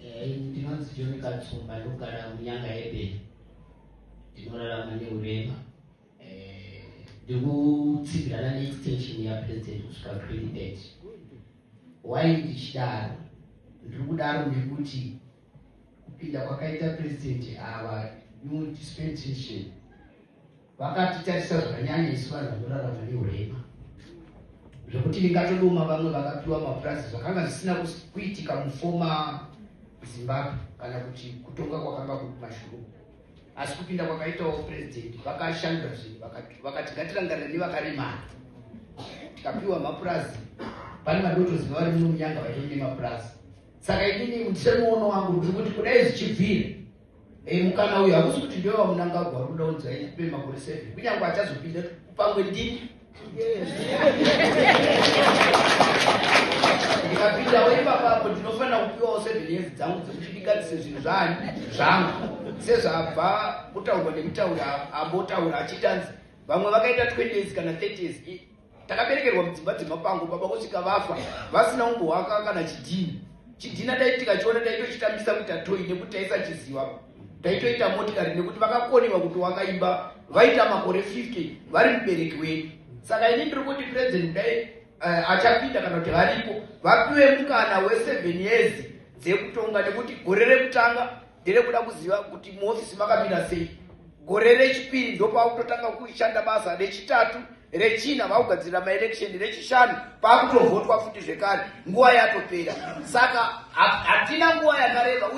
Eh, ndinonzi joni katsumba ndogara munyanga yebeni ndinorarama neurema eh, ndikutsivirana neextension yapresident kusvika president why ndichidaro ndiri kudaro nekuti kupinda kwakaita president ava new dispensation Vakatitarisa zvakanyanya isu vanhu vanorarama neurema zvekuti ndingatodoma vamwe vakapiwa mapurazi zvakanga zvisina kuitika mufoma Zimbabwe kana kuti kutonga kwakanga kuri mashuru asi kupinda kwakaitawo purezidenti vakashandura zvinhu vakati ngatirangarira nevakaremara tikapiwa mapurazi pane vadotoziva vari muno munyanga vaitoi nemapurazi saka inini mutisani muono wangu ndiri kuti kudai zvichibvira Hey, mukana uyu hakusi kuti ndiwe wamunangagwa uri kuda kunzi aipe makore seven kunyange achazopinda pamwe ndini ndikapindawo ipapapo ndinofanira kupiwawo seven years dzangu dzekuti ndingatise zvinhu zvaani zvangu sezvabva kutaurwa nemutauri ambotaura achitanzi vamwe vakaita 20 years kana 30 years takaberekerwa mudzimba dzemapango baba kusvika vafa vasina umbohwaka kana chidhina chidhina dai tikachiona taitochitambisa kuti atoi nekuti taisachiziva taitoita motikari nekuti vakakonewa kuti wakaimba vaita makore 50 vari mubereki wedu saka ini ndiri kuti president dai uh, achapinda kana kuti varipo vapiwe mukana we7 years dzekutonga nekuti gore rekutanga ndere kuda kuziva kuti muofisi makamira sei gore rechipiri ndopakutotanga kushanda basa rechitatu rechina vakugadzirira maelection rechishanu pakutovhotwa futi zvekare nguva yatopera saka hatina nguva yakareba